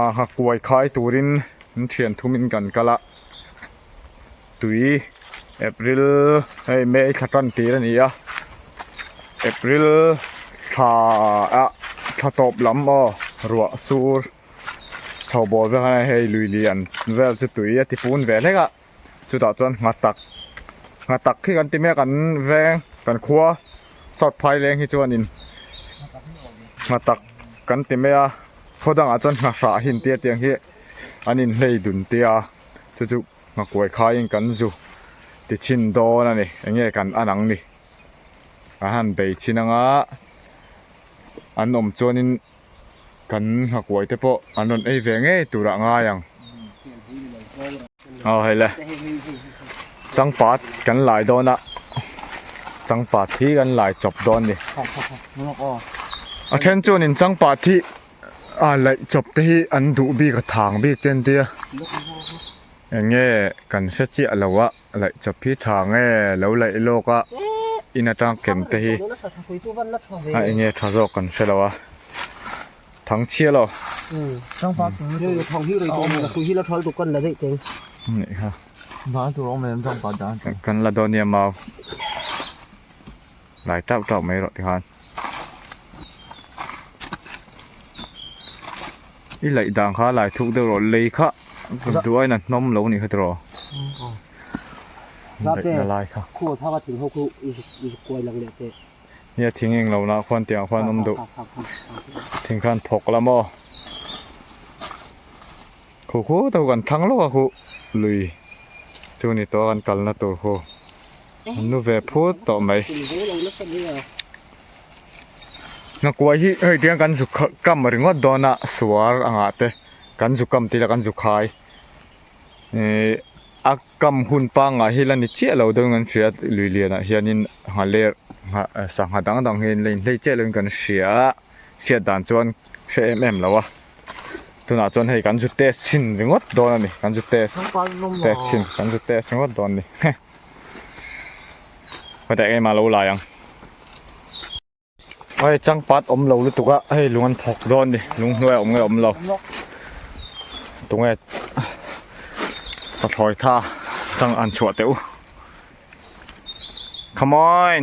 Aa kuai khai turin in thian thum in kan kal a, tui April hei May thla tan tir a ni a, April thla a thla tawp lam aw ruah sur chho bawl vel ah hian hei lui lian vel chu tui a ti pun ve hlek a. chutah chuan nghat tak nghat tak khi kan ti mek an veng kan khua sawt phai leng hi chu a ni nghat tak kan ti mai a khaw dangah chuan ngha hrah a hi inti atiang hi an inhlei dun tia chu chu ngha kuai khaiin kan zu ti chhin dawn a ni eng nge kan an ang ni kan han bei chin anga an awm chuanin-- Kan nghakuai te pawh an rawn ei ve ngei turah ngai ang. Aw hei le. Changpat kan lai dawn a. Changpat hi kan lai chawp dawn ni. A then chuan in changpat hi a laih chawp te hi an duh bik a thang bik te an tia. Eng nge kan hre chiah lo a. laih chawp hi tha nge lo laih lawk a in atang kem te hi a eng nge tha zawk kan hre lo a thang chhia lo kan la dawn nia mau. Lai tauh tauh mai rawh tikhan I laih dan kha lai thuk deuh rawh lei kha duh aina hnawm lo nih kha tiraw Tate khuaw phak a thing ho khu I zuk I zuk kuai lang leh teh Nia thing eng lo lah khuan tiang khuan awm deuh thing khan phawk la maw khu khu deuh kan thang lawk a khu lui chu ni tawh a kan kalna tur khu. An nu ve phut tawh mai. Nakuai hi hei tiang kan zu kha kam ringawt dawn a suar a ngah te kan zu kam tih ila kan zu khai ihh a kam hun pangah hi la ni chiah lo dawn kan hria lui lian ah hian in ngha ler ngha sangha dang dang hian in la inhlei chiah lo in kan hria a hriat dan chuan hre em em lo a. tunah chuan hei kan zut test chhin ringawt dawn a ni kan zut test test chhin kan zut test ringawt dawn a ni he hetiang ema lo lai ang hei changpat awm lo lutuk a hei lung an phawk dawn a ni lung hnuai awm nge awm lo tunge ka thlawih tha chang an chhuah teh u come on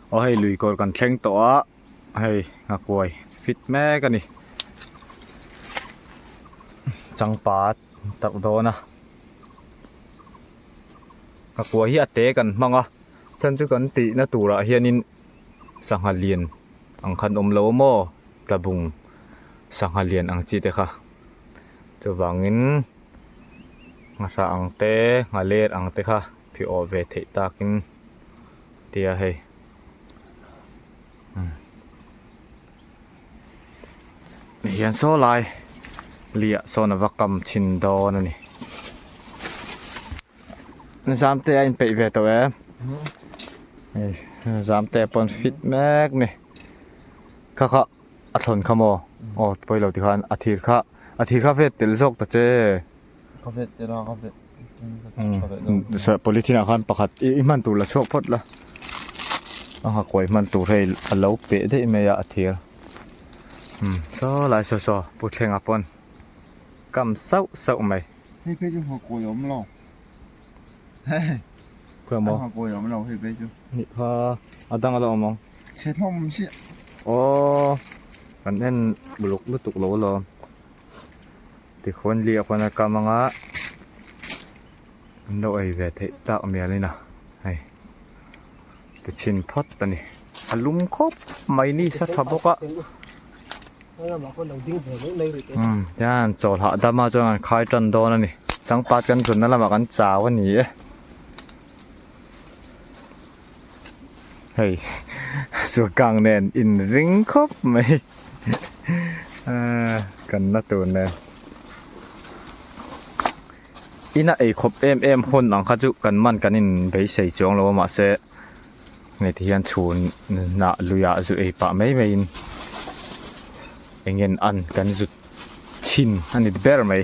Aw hei lui kawr kan thleng tawh a, hei nghakuai fit mek a ni. Changpa tawrh dawn a. Nghakuai hi a te kan hmang a, chuan chu kan tihna turah hianin sangha lian ang khan awm lo maw, tlabung sangha lian ang chi te kha. Chuvangin ngahra ang te nghaler ang te kha phiawh ve theih takin. tia hei umm hian saw lai lia sawn ava kam chhin dawn a ni zam te a inpeih ve tawh em zam te pawn fit mek ni kha kha a thlawn kha maw aw pawilo tikhan a thir kha a thir kha vet tel zawk ta che. polythene ah khan pakhat i hman tur la chhuak phawt la a hakuai hman tur hei a lo peh daih mai a a thir umm saw lai saw saw puthleng ah pawn kam sauh sauh mai hei phei chu hakuai a awm lo pawimawh hakuai a awm lo hei phei chu nihkha a dang alawm ang chhe hlawm ang chiah aww kan en uluk lutuk lo alawm. Tikhun li a pawn a kam anga an lo ei ve theih tak mial in a hei ti chhin phawt a ni a lum khawp mai ni sa tha bawk a umm tian chaw hlah dam a chuan an khai tan dawn a ni changpat kan zun na lamah kan chau a ni e. Hei, Suakang nen inring khawp mai. Kan na tur nen. Ina ei khawp em em hun ang kha chu kan man kan in beisei chuang lo mah se nge ti hian chhun na luya zu ei pa mai mai in engen an kan zut thin ani ber mai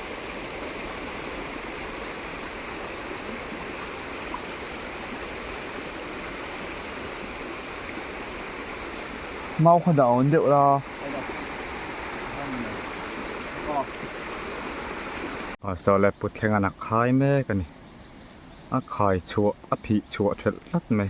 Mau kha dah awn deuh la. Sawleh put thleng an ak khai mek a ni. A khai chhuah a phih chhuah ṭhelh tlat mai.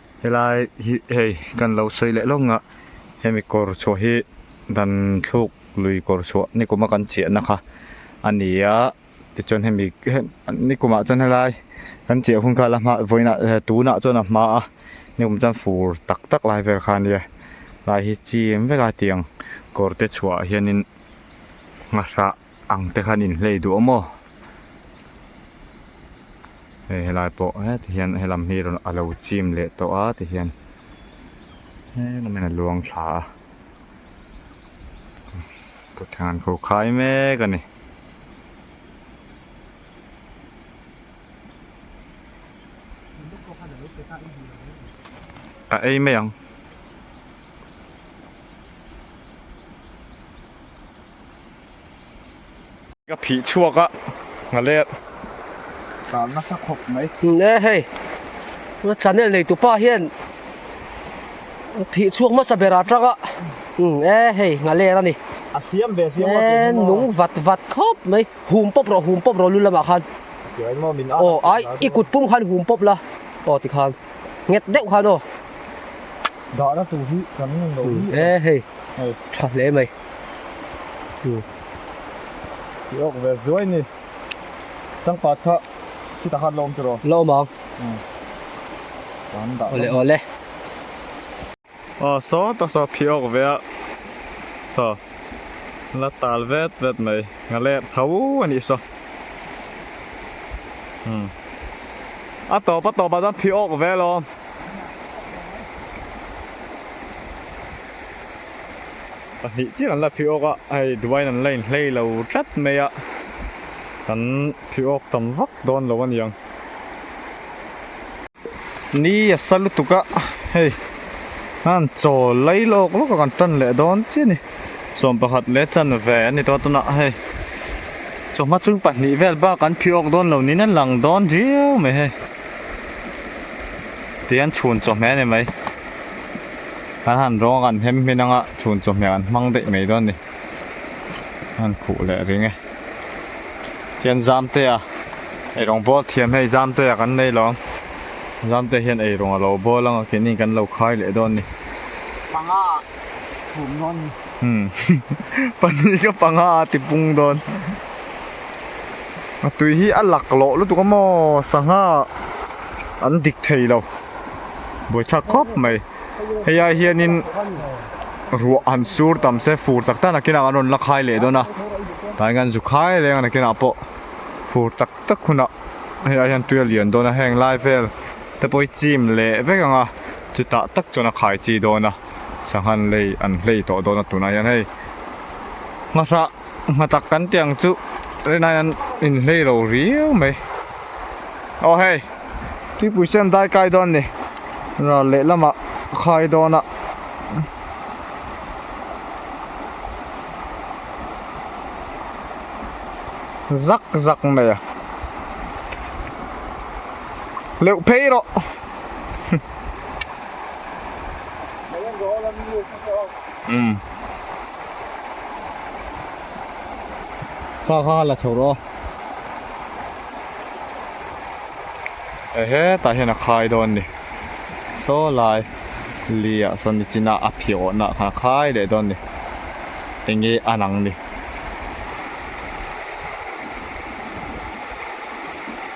Helai hi hei kan lo sawi leh lawng a hemi kawr chhuah hi dan thluk lui kawr chhuah nikuma kan chiahna kha a ni a tichuan hemi nikumah chuan helai kan chiah hun kha la hma vawiinah tunah chuan a hma a nikum chuan fur tak tak lai vel kha a nia helai hi chim vela tiang kawrte chhuah hianin nghahra-- Ang te khan in hlei duh maw? Hei helai pawh heti hian he lam hi a lo chim leh tawh a ti hian he lam in a luang thla a. Thutthleng an kho khai mek a ni. A ei mai ang. Ka phih chhuak a, Nghalek. Tlan nasa khawp mai. Nge hei, ka channel nei tupa hian ka phih chhuak hmasa ber atang a. Nge hei, Nghalek a ni. A thiam ve si maw? Nge nung vat vat khawp mai. Hum pawp rawh, hum pawp rawh lu lamah khan. Tirei maw min aah. Aw ai, i kut pum khan hum pawp la. Aw tikhan, nghet deuh khan aw. Dahna tur hi kan ngaihloh hi. Nge hei, tha hle mai. Chu ti awk ve zuai ni. Changpat kha khi ta khan la awm tir aw? La awm ang. Aw le aw le. Aw saw ta saw khi awk ve a. Saw la tal vet vet mai. Nga le tho a nih saw. Umm. A tawp a tawp ah chuan khi awk ve lawm. a hnih chiang an la phih awk a, hei duai in an la inhlei lo tlat mai a, kan phih awk tam vak dawn lo a ni ang. Ni a sa lutuk a, hei han chaw lei lawk lawk a kan tan leh dawn chiah a ni. Sawm pakhat leh chanve a ni tawh a tunah hei chawhma chung pahnih vel bak kan phih awk dawn lo niin a lang dawn riau mai hei. tih an chhun chaw hmel em mai an han rawng a kan hem hmin anga chhun chaw hmel an hmang daih mai dawn ni a han khuh leh ring e khian zamtea erawng bâwl thiam hei zamtea kan nei lo ang zamtea hian eirawng a lo bâwl ang a keini kan lo khai leh dawn ni hmanga. chhum dawn a ni. Umm pahnih ka panga a tipung dawn. A tui hi a lak loh lutuk a maw sangha an dik thei lo. Buaithlak khawp mai. Hei ai hianin ruah han sur tam se fur tak tak nakinah an rawn la khai leh dawn a. Tah hian an zu khai leng a nakinah pawh fur tak tak hunah hei ai hian tui a lian dawn a. Heng lai vel. Te pawhi chim leh vek ang a, chutah tak chuan a khai chi dawn a, sangha an lei an hlei tawh dawn a tunah hian hei hmahrah hmatak kan tih ang chu Rinain an inhlei lo riau mai. Aw hei Tuipui se an dai kai dawn ni, ral leh lama a khai dawn a. Zak zak mai a. leuh phei rawh um ha ha la chho ro ehe ta hian a khai dawn ni saw lai lia sawn ni china a phiawh na kha khai leh dawn ni enge an ang ni.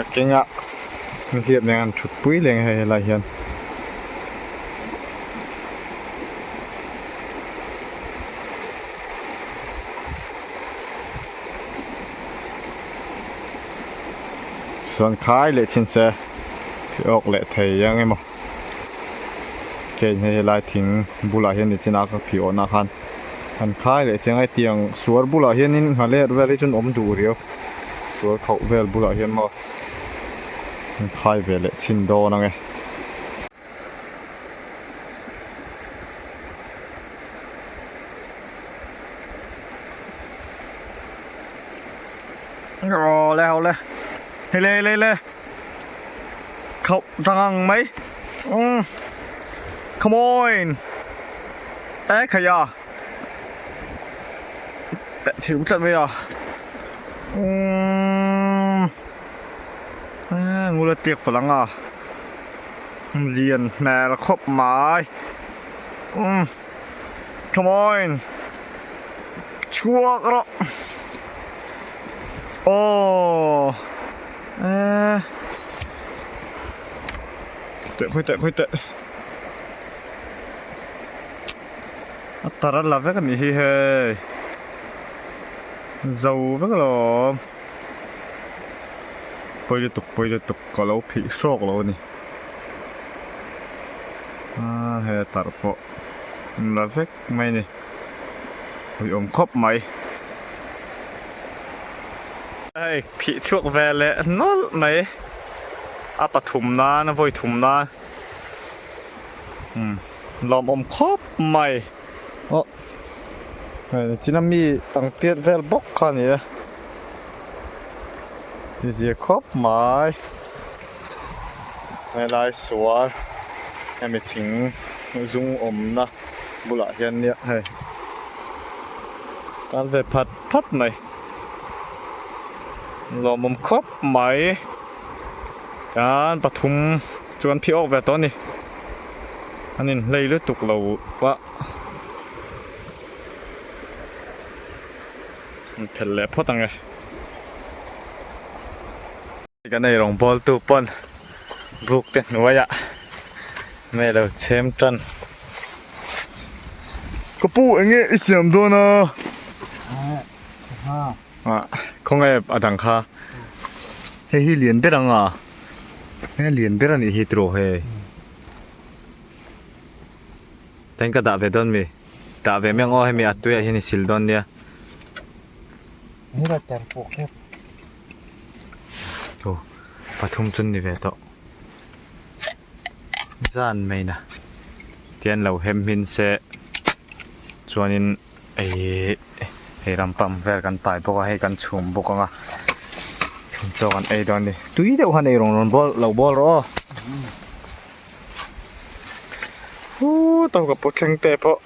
a keng a nihliap nen a han thut pui leng a hei helai hian chuan khai leh chin se pheiawk leh thei ang emaw. Heng hei helai thing bulah hian nichin a ka phih awhna khan han khai leh chiang a heti ang suar bulah hian in hnah leh vel hi chuan awm duh riau suar khauh vel bulah hian maw han khai ve leh chin dawn ang e awle hawle hei le hei le hei le. khauh tang ang mai umm come on eh khaia peh thilh tlat mai a umm eee ngula tiak pawl anga lian hmel khawp mai umm come on chhuak rawh aww Aa. Teh khui teh khui teh. A tar a la vek a nih hi hei. Zo vek lo awm. Pawi lutuk pawi lutuk ka lo phih hrawk lo a ni. Aa hei a tar pawh a la vek. mai ni ui awm khawp mai hei phih chhuak ve leh nawlh mai a pathum nan a vawi thum nan umm lawm awm khawp mai awh hei a chin a mi ang tiat vel bawk kha ni a ti zia khawp mai helai sual hemi thing zung awmna. bulah hian niah hei kan ve phat phat mai lawm awm khawp mai kan pathum chuan phiawk ve tawh a ni an in hlei lutuk lo va an phel leh phawt ang e. Kan erawng bawltu pawn bukte hnuaia hmeh lo chhem tan. Ka pu eng e i siam dawn a? Khawnge a dang kha? Hei hi lian ber anga? He lian ber a nih hi tiraw he? Tain ka dah ve dawn mi? Dah ve miang aw hemi a tuiah hian i sil dawn nia. Aw pathum chu ni ve tawh zan mai na tia an lo hem hmin se chuanin hei ram pump vel kan pai bawk a hei kan chhum bawk anga chhum tawh kan ei dawn a ni tui deuh han ei rawn rawn bawl lo bawl rawh aw huu tawka pu thleng te pawh.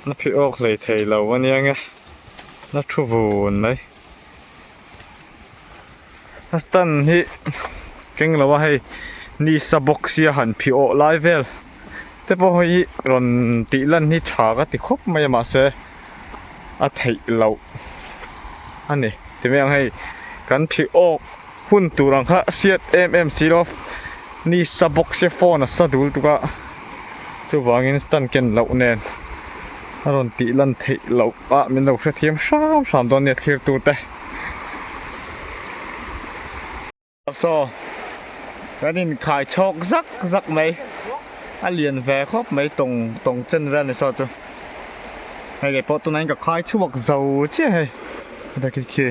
Na phih awk hlei thei lo a nia nge. Na thu vun mai. A stan hi keng lo a hei ni sa bawk sia han phih awh lai vel te pawh hi rawn tih lan hi tha ka ti khawp mai a mahse a theih loh a ni ti mai ang hei kan phih awk. Hun tur ang kha hriat em em si lo. Ni sa bawk se phone a sa dul tuk a. Chuvangin stand ken loh nen a rawn tih lan theih loh a min lo hrethiam hram hram dawn nia thlir tur te. Saw kan in khai chhawk zak zak mai. A lian ve khawp mai tawng tawng chen vel ni saw chu. Hei kei pawh tunah in ka khai chhuak zo chiah hei. Heta khi khi.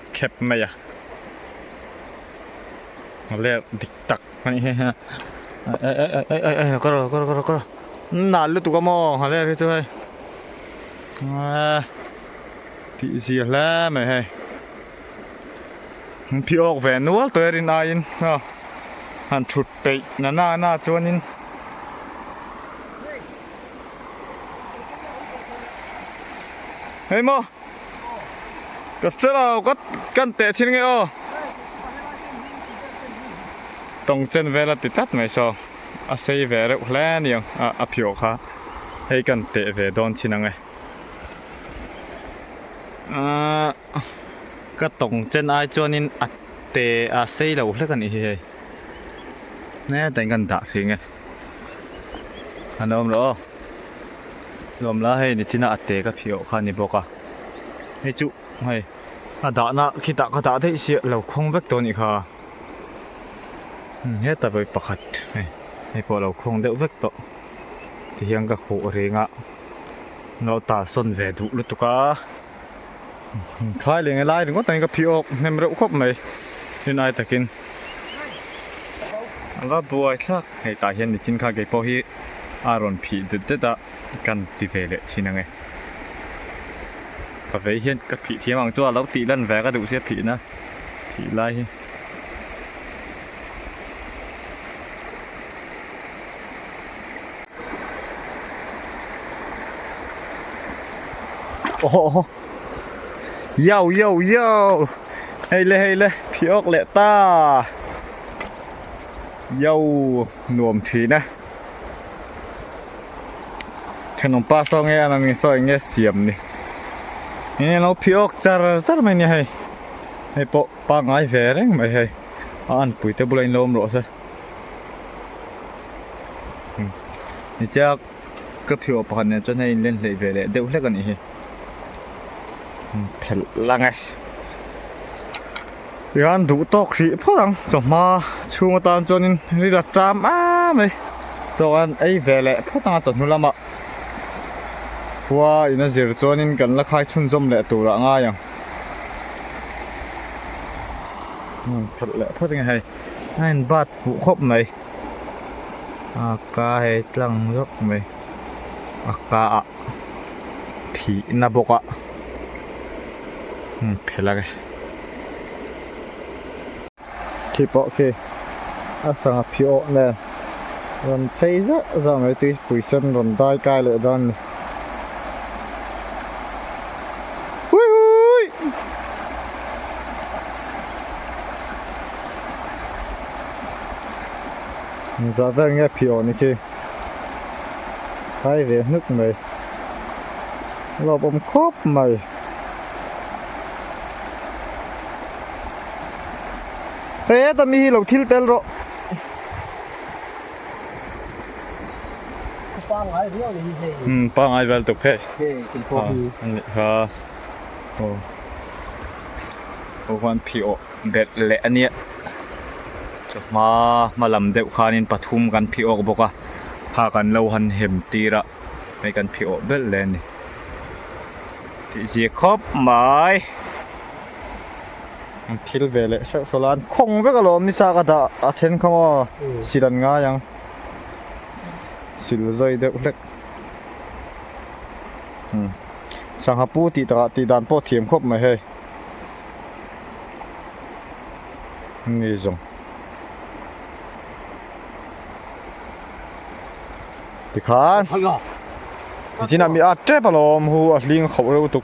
khep mai a a lerh dik tak a nih heh a ka rawh ka rawh ka rawh an nal lutuk a maw a lerh hi chu hei eee tih zia hle mai hei an phi awk ve nual tawh e rin aiin hna han thut peih na nana chuanin hei maw. Ka selaw ka kan teh chhin nge aw tawng chen vela ti tlat mai saw a sei ve reuh hle ni ang a a phiawh kha hei kan teh ve dawn chhin ang e ah ka tawng chen ai chuanin a te a sei lo hlek a nih hi hei nge tain kan dah thin nge. An awm lo aw. Lawm la hei ni china a te ka phih awh kha ni bawk a. Hei chu hei a dahna khitah ka dah daih si a lo khawng vek tawh a nih kha. Umm heta pawh hi pakhat hei hei pawh a lo khawng deuh vek tawh ti hian ka khuh reng a. An lo ta sawn ve duh lutuk a. thlai leh nge lai ringawt angin ka phih awk hnem reuh khawp mai tin ai takin ava buai thlak hei tah hian nichin kha kei pawh hi a rawn phih det det a kan ti ve leh thin ange ka vei hian ka phih thiam ang chu a lo tih lan ve ka duh sia phihna phih lai hi Oho, yo, yo, yo. Hei le, hei le, phi ok le ta. Yo, nuam thin a. Then nong pa so nge anang in so nge siam ni. Nge lo phi ok char char mai ni hei. Hei po pa ngai ve reng mai hei. An pui te bula in lo awm lo se. Nihchiak ka phio pakhat nen chuan hei inlen hleih ve leh deuh hlek a nih hi. Phelh lang e. Iran duh tawk hrih phawt ang. Chawhma chhung atan chuanin ril a ṭam a mai. Chawhkan ei ve leh phawt ang a chawhnu lama khua in a zir chuanin kan la khai chhunzawm leh tur a ngai ang. Phelh leh phawt ang e hei. a in bat fuh khawp mai a ka he tlang zawk mai a ka ah phih na bawk a heng phel a ni khi pawh khi a sang a phih awh nen rawn phei zah zah mai tui pui sen rawn dai kai leh dawn a ni. za ber nge phih aw ni khi khai ve hnuk mai lawp awm khawp mai heta mi hi lo thil tel rawh. Pangai viau ni hei. Hmm, pangai viau tuk hei. Hei, kei po hi. Ani ha. Oh. Ohan phi o bet le ania. Chuma malam deuh khanin pathum kan phi ok boka. Ha kan lo han hem tira. Hei kan phi ok bel le ni. Ti zia khop mai. an thil ve leh hreuh hreuh la an khawng vek alawm ni sa ka dah a then kha maw sil an ngai ang sil zawi deuh hlek umm sangha pu tih takah tih dan pawh thiam khawp mai hei ni zawng tikhan zinah mi at tep alawm hu a hling khauh reuh tuk.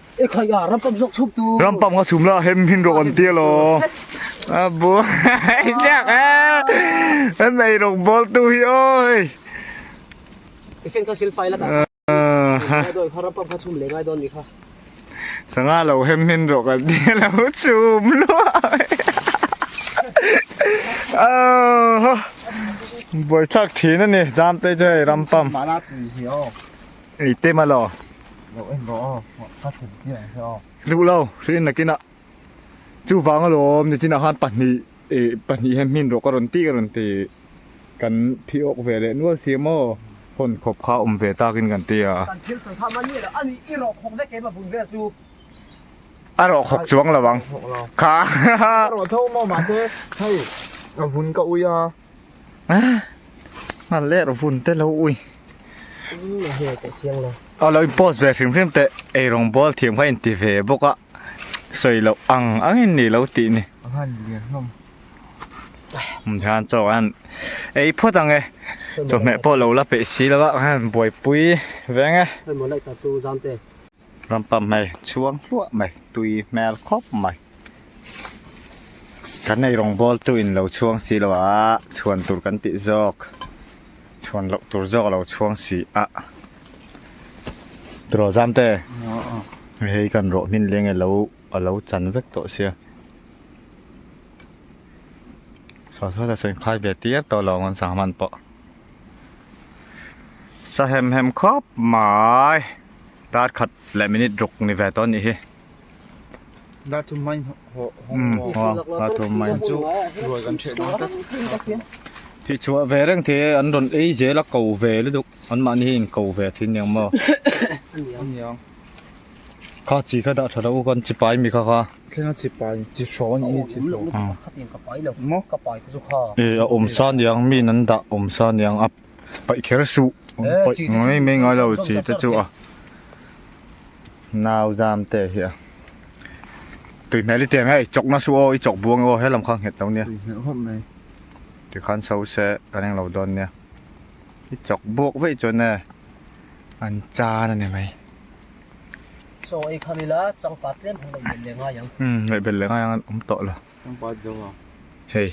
Ram pam kha chhum la hem him rawh kan tia law a bu ai tlak a a nei rawh ball tu hi awi fan kha silfai la ta sanga lo hem him rawh kan tia lo chhum luah a ho buai thlak thin a ni jam te chu hei ram pam Ei te ma lo. Lo em ro aw, ka thlen tir ang che aw. Hluh lo, hre in nakin a. Chuvang alawm ni chinah khan pahnih eh pahnih hian hmin rawh ka rawn tih ka rawn ti. Kan phih awk ve leh nual si emaw? Hawn khawp kha awm ve takin kan ti a. Kan thil sawi kha mah ni alo, ani i rawh khawk vek em a vun vel chu. A rawh khawk chuang lo ang kha. Ka rawh tho maw mahse hei a vun ka ui a. a ler vun te lo ui a lo post ve hrim hrim teh eirong ball thiam kha inti ve bawk a sawi loh ang ang in ni lo tih ni mi han chaw an ei phawt ang e chawhmeh pawh lo la peih si lo a buaipui veng e. Ram pump hmel chhuang hluah mai tui hmel khawp mai kan nei rawng ball tu in lo chhuang si lo a chhuan tur kan tih zawk chhuan loh tur zawk a lo chhuang si a tiraw zam te hei kan rawh hmin leng e lo a lo chan vek tawh sia sa sawi ta sawi khai ve tir tawh lo ang sangha man pawh sa hem hem khawp mai. tar khat leh minute ruk ni ve tawh ni hi dar thum mai ho dar thum mai chu ruai kan chhe dang tak thi chua ve reng the an ron ei zel a ko ve luduk an mah ni in ko ve thin niang mo aniang kha chi kha da thara u kan chi pai mi kha kha thleng chi pai chi hro ni chi hro khatin ka pai lo mo ka pai chu kha e a om sa niang mi nan da om sa niang a paih kher suh paih mai mai ngai lo chi te chu a nau zam te hi a tui hmel i tiang hei chawk na suh aw i chawk buang aw he lam kha nghet lo nia ti khan so se kan eng lo dawn nia i chawk buak vei chuan e an chan a ni mai so ei khan ila changpa tlem hmang leh bel leh ngai ang um tawh lo. Hei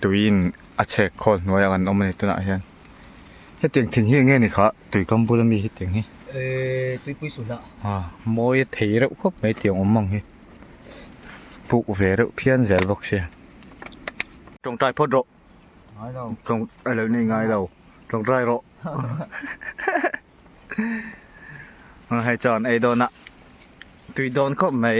tuiin a chhek khawl hnuaiah kan awm a ni tunah hian hetiang thin hi enge ni kha tui kam bula mi hetiang hi ehh tuipui suh hlah a mawi a thei reuh khawp mai tiang awm ang hi puh ve reuh phian zel bawk sia tawngtai phawt rawh ngailo tawng alo ni ngailo tawngtai rawh hei chuan ei dawnah tui dawn khawp mai.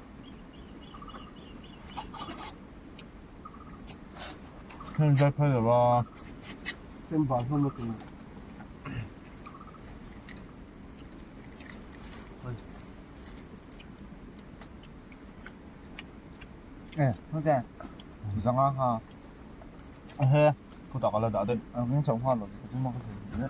Heng zai phai lo a. Chen bal hmang na tum. Eh, hoi kya? Zanga ha. He, puta kala da de. Ang chau ha lo, chuma ka thei.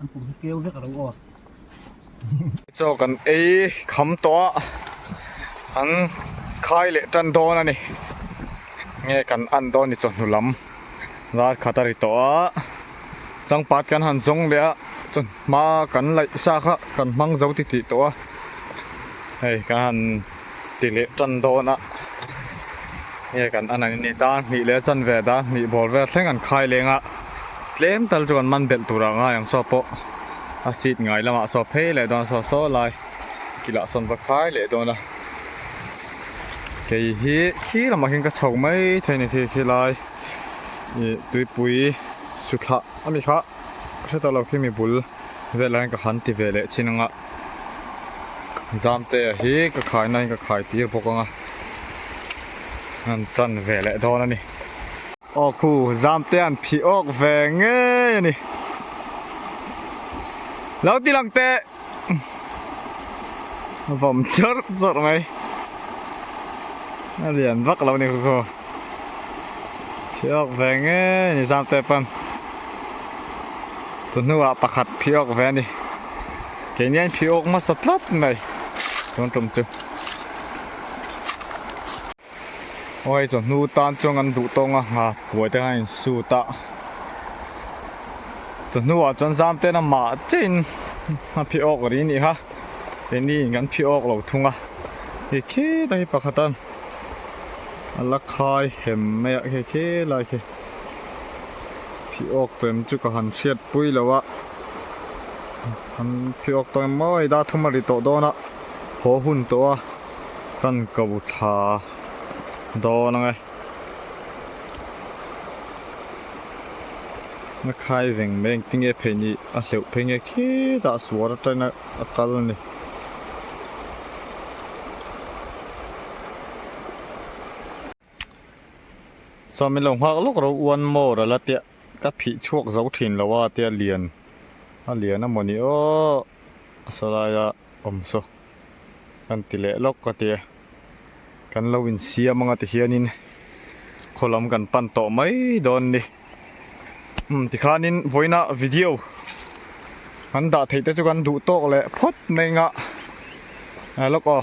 an kum hi keu vek a ro aw cho kan ei kham to a an khai le tan don ani nge kan an don ni cho hnulam zar khata ri to a changpat kan han zong le a cho ma kan laih sa kha kan hmang zo ti ti to a hei kan han ti leh tan dawn a, hei kan a nangin ni ta hmih leh chan ve da hmih bawl vel thleng an khai leng a, tlem tal chu kan man belh tur ah ngai ang saw pawh a seat ngai lam ah saw phei leh dawn saw saw lai kilah sawn va khai leh dawn a, kei hi khi lamah khin ka chho mai theih ni khi khi lai ih tuipui suthlah ami kha ka hre tawh lo khi mi bul vel ah khin ka han ti ve leh chin ang a. Zamtea hi ka khai naiin ka khai tir bawk anga an chan ve leh dawn a ni. Aw khu Zamtea an phih awk ve ngei a ni. Lo ti lang teh! A vawm chawrh chawrh mai. A lian vak lo a ni khu khu. Phih awk ve ngei a ni Zamtea pawn. Chu hnuah pakhat phih awk ve a ni. Kei nia in phih awk hmasa tlat mai. Chuan tum chu. Aw hei chu hnu tan chuan kan duh tawng a ha puai te khan in suit a. Chu hnuah chuan zam ten a mah che in a phih awk ri ni ha. Kei ni in kan phih awk lo thung a. Khi khil a hi pakhat a la khai hem mai a khi khil a khi. Phiawk pem chu ka han hriat pui lo a, han phiawk tawh em maw i da thum a ri tawh dawn a, haw hun tawh a kan ko thla dawn ang e. Na khai veng mai engti nge phei ni a hleuh phei nge khitah suar atangin a kal a ni. Chuan min lo nghak lawk ro one more a la tiah ka phih chhuak zo thin lo a tia lian a lian a maw ni aww a saw lai a awm saw kan ti leh lawk ka ti a kan lo in siam anga ti hian in khaw lam kan pan tawh mai dawn ni umm ti khan in vawiina video an dah theih te chu kan duh tawk leh phawt mai anga a lawk aw.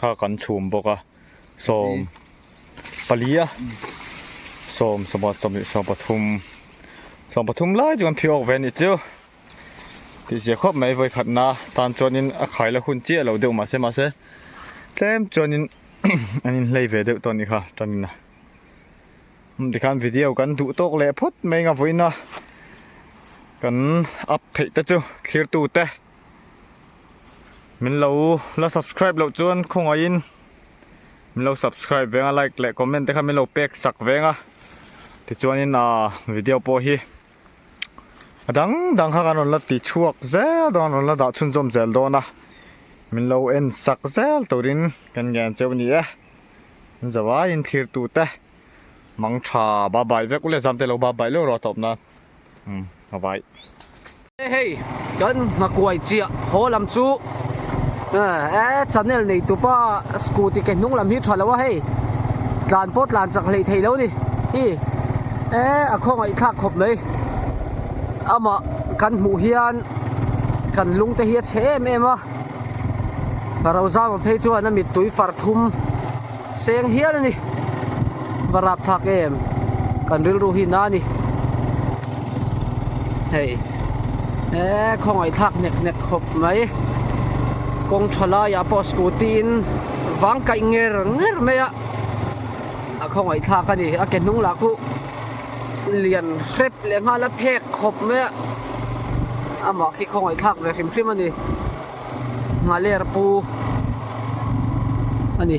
kha kan chhum bawk a sawm pali a sawm sawmah sawmleh sawm pathum sawm pathum lai chu kan phiah awk ve anih chu tihzia khawp mai vawikhatna tan chuanin a khailo hun chiah lo deuh mahse mahse tlem chuanin an inhlei ve deuh tawh a ni kha tanin a um tikhan video kan duh tawk leh phawt mai anga vawiin a kan up theih te chu thlir tute Min lo la subscribe loh chuan khawngaih in min lo subscribe veng a like leh comment te khan min lo pek sak veng a tichuan in a video pawh hi a dang dang kha kan rawn la ti chhuak zel dawn rawn la dah chhunzawm zel dawn a min lo en sak zel turin kan ngen cheu ni e zawai in thlir tute mangtha ba bai vek uleh zam te lo ba bai leh rawh a tawp nan. a vai. He hei kan Nghakuai chiah haw lam chu e channel nei tupa scooty ke hnung lam hi tha lo a hei tlan pawh tlan chak hlei thei lo ni hi e a khawngaih thlak khawp mai amah kan hmuh hian kan lung te hi a che em em a rosama phei chuan a mittui far thum. Seng hial a ni. Va rap thak em. Kan rilru hi na a ni. Hei. E, khawngaih thlak nek nek khawp mai. Kawng tha laiah pawh scooty in vang kaih nger nger mai a. A khawngaih thlak a ni. A ke hnung lah khuh lian hrep leh nghal a phek khawp mai a. Amah khi khawngaih thlak ve hrim hrim a ni. nghah ler pu a ni.